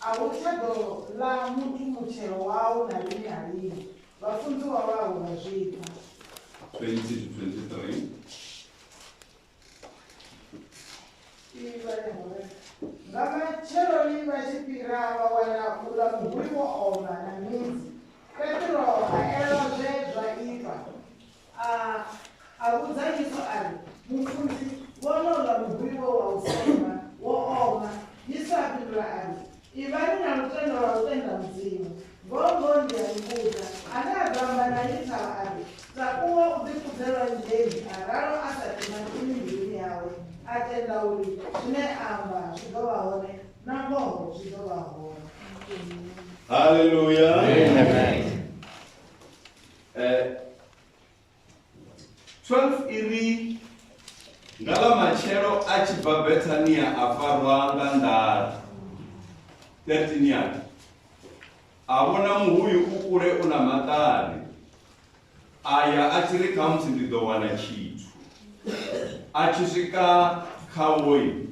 A hu tsha ḓo ḽa muthu mutshelo wao na lini na lini, vhafunziwa vhawe vha zwi pfa. 20-23. Nga matsheloni vha tshi fhira vha wana uḽa muhuli wo oma na midzi. Petro a elwa zwe zwa itwa. A a vhudza Yesu a ri, Mufunzi, wonoula muvhuli we wa u sema wo oma. Yesu a fhindula a ri, Ivhani na lutendo lwa u tenda Mudzimu. Ngoho ngoho ndi a ni vhudza, ane a ḓo amba na iyi thavha a ri, Takuwa u ḓikudze lwanzheni, a ralo a sa timatimi mbiluni yawe, a tenda uri zwine a amba zwi ḓo vha hone, nangoho zwi ḓo vha hone. Hallelujah. Amen. Eh, 12 iri nga ḽa matshelo a tshi bva bethania a farwa nga nḓala 13 yake a vhona muhuyu u kule u na maṱari a ya a tshi ri khamusi ndi ḓo wana tshithu a tshi swika khawoyi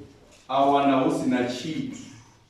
a wana hu si na tshithu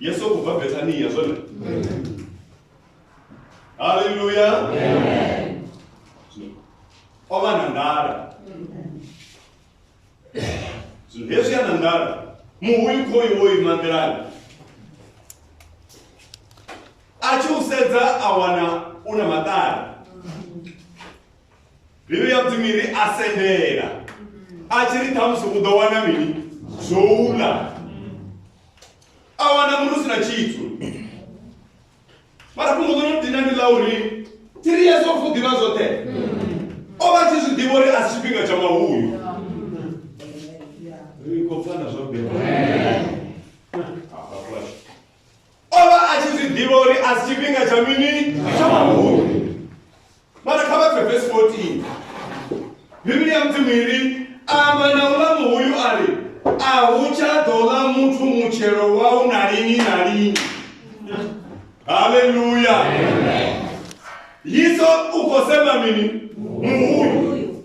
yesu o kubva bethania zwone halleluya o vha na nḓala zwino hezwi a na nḓala muhuyu khoyu wo ima nḓilani a tshi u sedza a wana u na maṱari mbilu ya mudzimu iri a sendela a tshi ri ṱhamusi u ḓo wana mini zwo ula a wana munu si na tshitsu mara fhungo ḽo no dina ndi ḽa uri tiri yesu o fuḓivha zwoṱhe o vha tshi zwi ḓivha uri a si tshifhinga tsha mahuyu ri khou pfana zwa bela o vha a tshi zwi ḓivha uri a si tshifhinga tsha mini tsha mahumi mara kha vha pfe vesi 14 bivhili ya mudzimu iri amba na uḽa muhuyu a ri a hu tsha ḓo ḽa muthu mutshelo wau na lini na lini haleluya yiso u khou sema mini muhuyu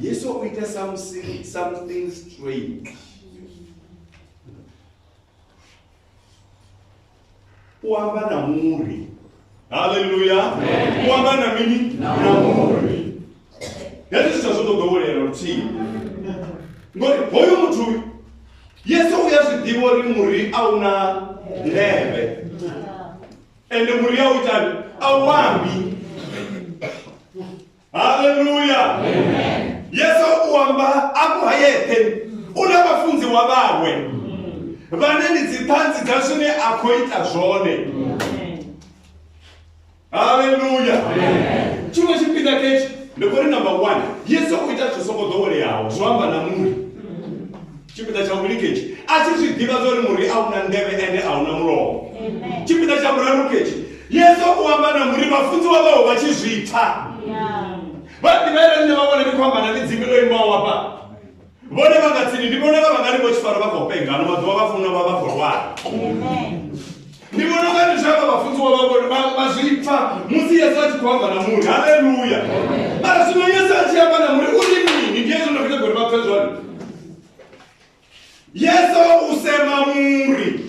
yesu o ita something, something strange u amba na muri haleluya u amba na mini na muri hezwi zwithu a zwo to ḓowelea luthihi ngori hoyu muthu yesu u ya zwi ḓivha uri muri a u na ndeme ende muri a u itani a u ambi haleluya yesu u amba afho ha yeṱhe u na vhafunziwa vhawe vhane ndi dziṱhanzi dza zwine a khou ita zwone haleluya tshiṅwe tshipiḓa ketshi ndi kori number one yesu u ita zwi songo ḓoweleaho zwo amba na muri tshipiḓa tsha vhuvhili ketshi a tshi zwi ḓivha zwa uri muri a u na nḓevhe ende a u na mulomo tshipiḓa tsha vhuraru ketshi yesu u amba na muri vhafunziwa vhawo vha tshi zwi pfa vha ḓivha ere nṋe vha vhona ndi khou amba na midzimi ḽo imaho wafha vhone vha nga tsini ndi vhone vha vha nga ri vho tshifara vha khou penga ano maḓuvha vha funa vha vha khou lwala Ndi vhona unga ndi zwavha vhafunziwa vha vhone vha- vha zwi pfa musi yesu a tshi khou amba na muri haleluya mara zwino yesu a tshi amba na muri u ri mini ndi yesu ndo khita gori vha pfe zwone yesu u sema muri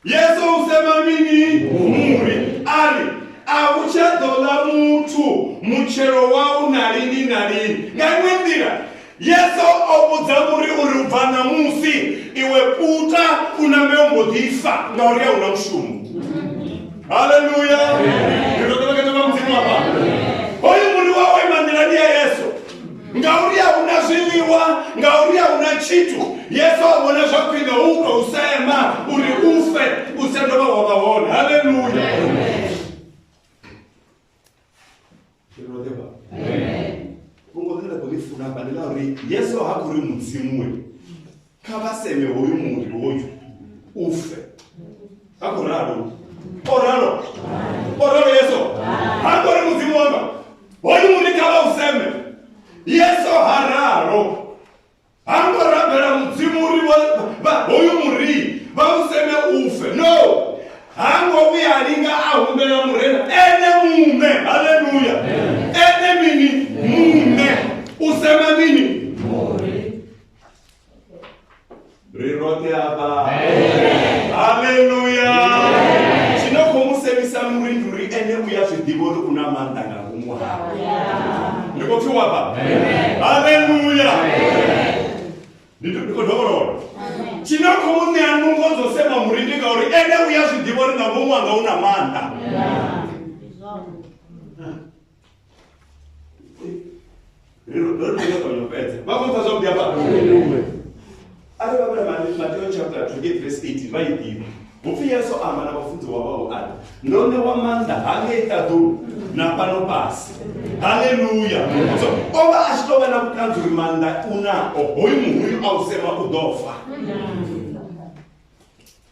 yesu u sema mini muri a ri a u tsha ḓo ḽa muthu mutshelo wau na lini na lini nga iṅwe nḓila Yesu o vhudza muri uri u bva ṋamusi iwe puta u nambe u mbo ḓi fa ngauri a hu na mushumo haleluya ri ḓo ṱolekedzo vha mudzimu afha hoyu muri wa waima nḓilani ya yesu ngauri a hu na zwiḽiwa ngauri a hu na tshithu yesu a vhona zwa khwine u tou sema uri u fe u sa dovha wa vha hone haleluya Tiroteva. Amen. Vhungo ḽine nda khou ḽi funa hafha ndi ḽa uri Yesu ha khou ri mudzimuwe kha vha seme hoyu muri hoyu u fe. Ha khou ralo. O ralo. O ralo Yesu. Ha khou ri mudzimu wanga hoyu muri kha vha u seme. Yesu ha ralo. ha ngo rabela mudzimu uri hoyu muri vha u seme ufe no ha ngo vhuya a linga a humbela murena ene muṋe haleluya ene mini muṋe u sema mini ri roṱhe afha haleluya tshino khou mu semisa muri ndi uri ene u ya zwi ḓivha uri u na maanḓa nga ngomu hawe ni khou pfiwa vha haleluya ni khou dovholola tshine a khou ṋea nungo dzo sema muri ndi ngauri ene u ya zwi ḓivha uri nga ngomu anga u na maanḓa ri ro ri ri kona u fhedza vha khou pfa zwa vhuḓi hafha arali vha vhala mateo chapter 28 verse 18 vha i ḓivha hupfi yesu amba na vhafunziwa vhawe ari ndo ṋewa maanḓa ha ngei ṱaḓulu na fhano fhasi haleluya so o vha a tshi tou vha na vhuṱanzi uri maanḓa u nao hoyu muhuyu a u sema u ḓo fa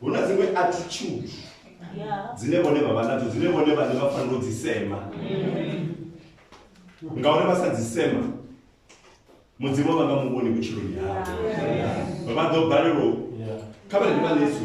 hu na dziṅwe attitude dzine vhone vha vha nadzo dzine vhone vhane vha fanela u dzi sema ngauri vha sa dzi sema mudzimu vha nga mu vhoni vhutshiloni havho vha ḓo balelwa kha vhane vha nesu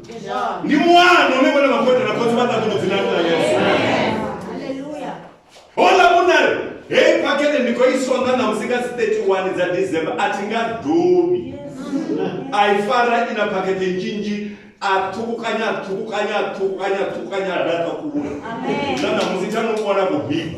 ndi muano une vhone vhakhothe na khotsi vha ṱakuno dzina ḽa yesu hola vhunari hei phakete ndi khou i songa na musi nga dzi 31 dza december a thi nga dobi a i fara i na phakete nzhinzhi a ṱhukukanya a ṱhukukanya a ṱhukukanya a ṱhukukanya a laṱa kule na namusi tsha no vhona vhubiko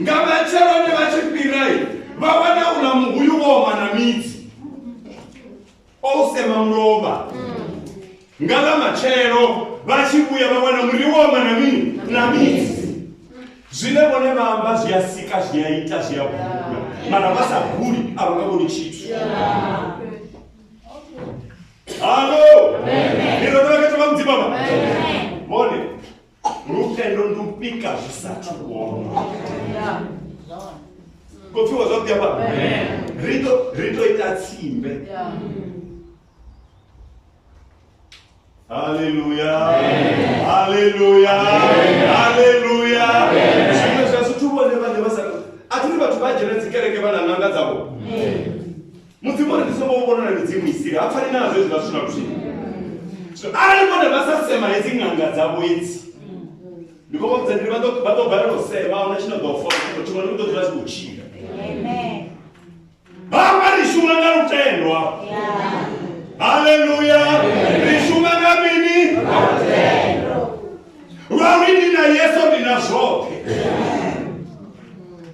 nga matsheloni vha tshi fhira vha wana uḽa muhuyu wo oma na midzi o u sema mulovha nga ḽa matshelo vha tshi vhuya vha wana muri wo oma na mini na midzi zwine vhone vha amba zwi a sika zwi a ita zwi a bula mara vha sa buli a vha nga vhoni tshithu halo ni ḓo ḓa vha khetha vha mudzimu vhone lutendo ndi u pika zwi sathu kuoma kopfiwa zwavhuḓi apa ri to ri to ita tsimbe haleluya haleluya haleluya zwiṅwe zwa zwithu vhone vhane vha sa a thi ri vhathu vha dzhena dzikereke vha na ṋanga dzavho mudzimu uri ndi songo vhonona midzimu i siri ha pfani nazwo hezwi vha sina luthihi so arali vhone vha sa sema hedzi ṅanga dzavho edzi ndi khou vhudza ndi vha ḓo vha ḓo balelwa u sema ahuna tshine ḓo fola tshiṅwe tshiṅwe ndi ḓo dzula tshi khou tshila vhamba ri shuma nga lutendwa haleluya ri shuma nga mini lwa uri ndi na yesu ndi na zwoṱhe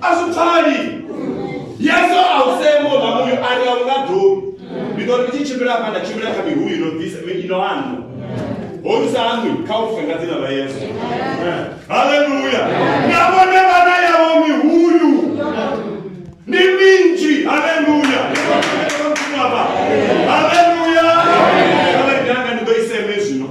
a zwi pfali yesu a u semo nga muyo a ri a u nga dobi ndi ḓo ri tshi tshimbila hafha nda tshimbila kha mihuyu ino bvisa ino anwa hoyu sa anwi kha u fe nga dzina ḽa yesu haleluya nga vhone vhana yavho mihuyu ndi minzhi haleluya haleluya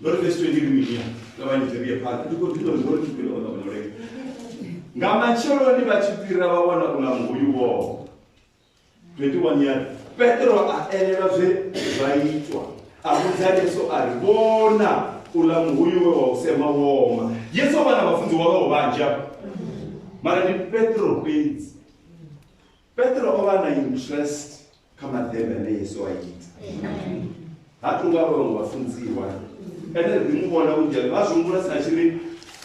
ndo ri fesi twendi liminia ṱavhanyedze ri ye phanḓa ndi khou ḓivha ngori tshi fhira ola muleka nga matsheloni vha tshi fhira vha wana uḽa muhuyu woho 21 year petro a elelwa zwe zwa itwa a vhudza yesu a ri vhona uḽa muhuyu we wa u sema woma yesu o vha na vhafunzi wawe ho vhanzhi mara ndi petro fhedzi petro o vha na interest kha maḓembe ane yesu a ita ha tu nga vhaṅwe vhafunziwa ene ri mu vhona vhunzhi vha zwihumbula sa tshi ri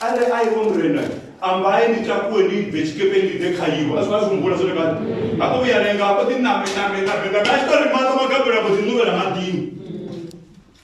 are a iwe murena ambaye ni takuwe ni bve tshikepe ni ḓe kha iwe a zwi vha zwihumbula zwone kana ha khou vhuya lenga a khou ḓi name name name name a tshi tou ri maṱo magabela a khou ḓi ṋuvhela maḓini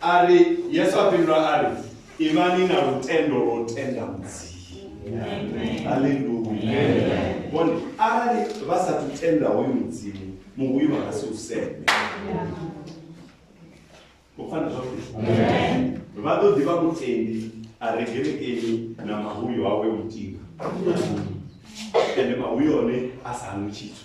a ri yesu a fhindula a ri ivhani na lutendo lwo tenda mudzimu aleluya vhone arali vha sathu tenda hoyu mudzimu muvhuyu vha nga si u seme u pfana zwavhuḓi vha ḓo ḓivha mutendi a re gerekeni na mahuyo awe mutinga ende mahuyo one a sa hangwi tshithu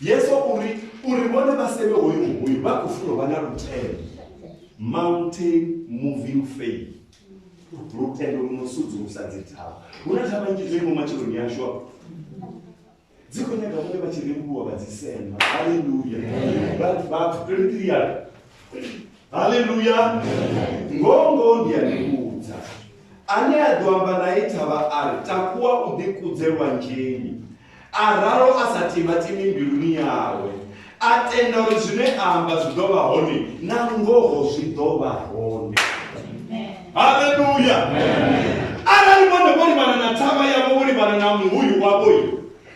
yesu uri uri vhone vha seve hoyu hoyu vha khou funa u vha na lutendo mountain moving faith lutendo lu no sudzulusa dzi thavha hu na thavha nnzhi dzo imo matshiloni yashu afho dzi khou nyaga vhone vha tshi rembuluwa vha dzi sema haleluya vhathu 23 yalo haleluya ngongo ndi ya ndivhudza Ane a ḓo amba nae thavha a ri, Takuwa u ḓikudze lwanzheni, a ralo a sa timatimi mbiluni yawe, a tenda uri zwine a amba zwi ḓo vha hone, na ngoho zwi ḓo vha hone. Haleluya! Arali vhone vho livhana na thavha yavho, vho livhana na muhuyu wavho,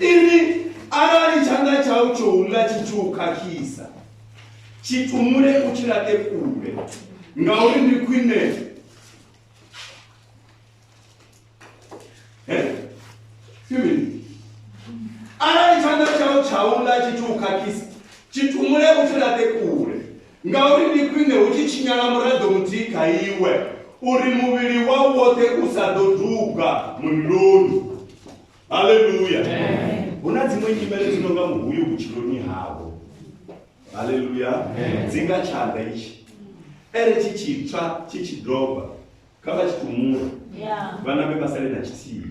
Inwi, arali tshanḓa tshau tsho u ḽa tshi tshi u khakhisa, tshi tumule u tshi laṱe kule, ngauri ndi khwine arali tshanḓa tshau tsha u ḽa tshi tshi u khakhisa, tshi tumule u tshi laṱe kule, ngauri ndi khwine hu tshi tshinyala muraḓo muthihi kha iwe uri muvhili wau woṱhe u sa ḓo duga muliloni. haleluya hu na dziṅwe nyimele dzi no nga muhuyu vhutshiloni havho haleluya dzi nga tshanḓa itshi ere tshi tshitswa tshi tshi doba kha vha tshitumula vhana vhe vha sale na tshithihi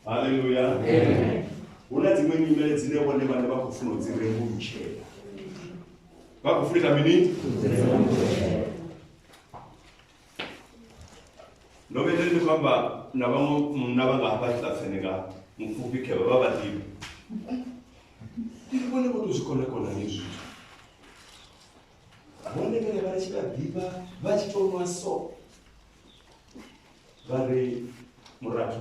haleluya hu na dziṅwe nyimele dzine vhone vhane vha khou funa u dzi rembulutshela vha khou funa ita mini ndo vhedza ndi khou amba na vhaṅwe munna vha nga hafha tshilaseneka mupfufhi khevha vha vhaḓivhi ndi vhone vho to zwi konakona ni zwithu vhone vhene vha tshi vha ḓivha vha tshi tou nwa so vha ri murathu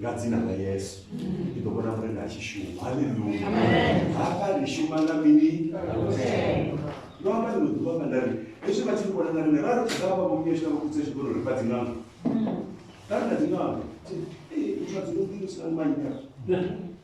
nga dzina ḽa yesu ndi ḓo vhona murena a tshi shuma haleluya hafha ri shuma nga mini ndo amba ḽino ḓuvha nga nda ri hezwi vha tshi vhona nga rine ra ri vha vha vho nyesha vho kutsa tshikolo ri fha dziṅanga ra ri na dziṅanga muthu a dzi vho ḓiimisela manyi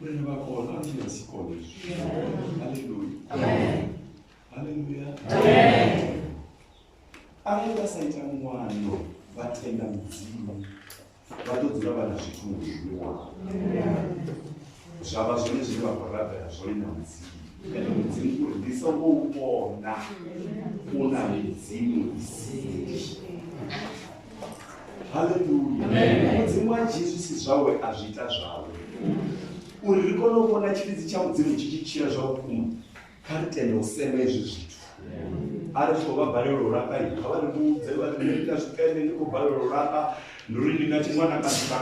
Murena vha kona a thina si kone izwi. Haleluya. Amen. Haleluya. Amen. Arali vha sa ita muwano vha tenda mudzimu vha ḓo dzula vha na zwithu muvhilini wavho zwa vha zwone zwine vha khou rabela zwone na mudzimu ene mudzimu uri ndi songo u vhona u na midzimu isii haleluya mudzimu wa jesu si zwawe a zwi ita zwawe uri ri kone u vhona tshilidzi tsha mudzimu tshi tshi tshila zwa vhukuma kha ri tende u sema hezwi zwithu a ri tshi khou vha balelwa u lapa i kha vha ri vhudze vha ri nṋe ndi na zwipende ndi khou balelwa u lapa ndi uri ndi nga tshi ṅwana kana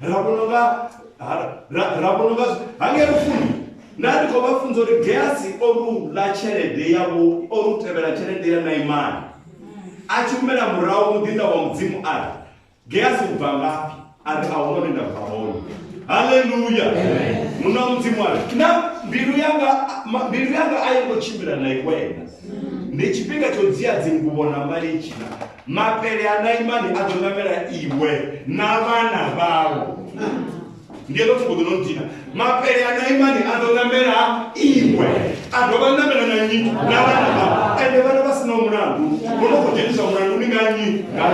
ra vhona nga ra vhona nga hangei lufuni nda ndi khou vha funza uri geasi o lula tshelede yavho o lu tevhela tshelede ya naimani a tshi humela murahu muḓinda wa mudzimu a ri geasi u bva ngafhi a ri a hu none nda bva hone haleluya muna mudzimu a ri na mbilu yanga mbilu yanga a yi ngo tshimbila na iwena ndi tshifhinga tsho dzia dzinguvo na malitshina mapele a naimani a ḓo namela iwe na vhana vhau ndi eḽo fhungo ḓo no dina mapele a naimani a ḓo namela iwe a dovha namela na nyi na vhana vhau ende vhana vha sinaho mulandu vho no khou dzhenisa mulandu ni nga nyi nga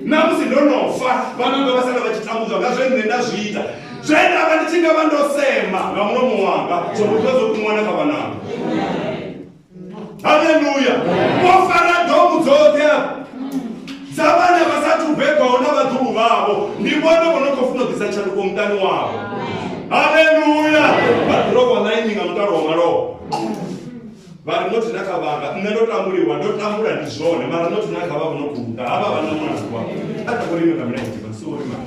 na musi ndo no fa vhana nga vha sala vha tshi tambudzwa nga zwe nṋe nda zwi ita zwe nda vha ndi tshi nga vha ndo sema nga mulomo wanga zwo muthu a zwo ṱuṅwana kha vhananga haleluya vho fara domu dzoṱhe afho dza vhana vha sa thu bebwaho na vhaḓumu vhavho ndi vhone vho no khou funa u ḓisa tshanduko muṱani wavho haleluya vha ḓirobwa ḽaini nga mutalo wa malofha vha ri nothi na kha vhanga nṋe ndo tambuliwa ndo tambula ndi zwone mara nothi na kha vha vho no khou ḓa ha vha vha na mwana wa a ḓa kho ri ime nga milenzhe vha si wo ri mara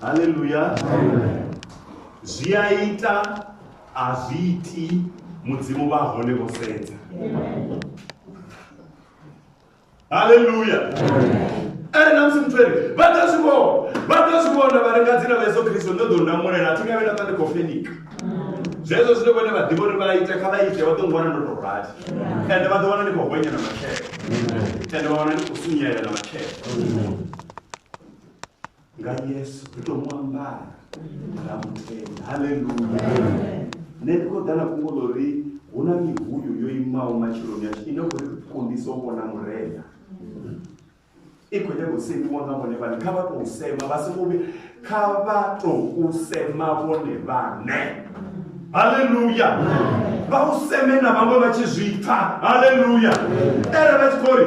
haleluya zwi a ita a zwi iti mudzimu vha hone vho sedza haleluya ene na musi muthu ere vha ḓo zwi vhona vha ḓo zwi vhona vha ri nga dzina vha yesu khristo ndo ḓo ndamulela a thi nga vhe na ṱa ndi khou fenika zwezwo zwine vhone vha ḓivha uri vha ite kha vha ite vha ḓo ngwana ndo tou rali ende vha ḓo wana ndi khou hwenya na matshelo ende vha wana ndi khou sunyela na matshelo nga yesu ri tou mu ambara ra mu tenda halleluya nṋe ndi khou ḓa na fhungo ḽo ri hu na mihuyu yo imaho matshiloni ashu ine khou ri kundisa u vhona murena i khou nyanga u semiwa nga vhone vhane kha vha tou sema vha songo vhuya kha vha tou sema vhone vhane halleluya vha u seme na vhaṅwe vha tshi zwi pfa halleluya ere vha tshi khou ri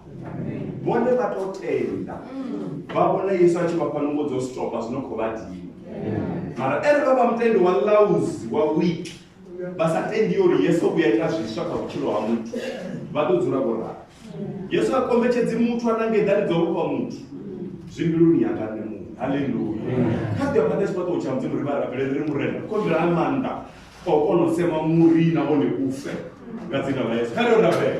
vhone vha to tenda vha vhona yesu a tshi vha fha nungo dzo stopa zwi no khou vha dina mara ere vha vha mutendi wa lauzi wa wiki vha sa tendi uri yesu o vhuya ita zwiswa kha vhutshilo ha muthu vha ḓo dzula vho rali yesu a kombetshedzi muthu a nange eḓani dzo vhofha muthu zwi mbiluni yanga nṋe muṋe haleluya kha ḓi afha nesi fhaṱo tsha mudzimu ri vha rabele ri ri murena kombela a maanḓa o kona u sema muri na vhone ufe nga dzina ḽa yesu kha ri rabele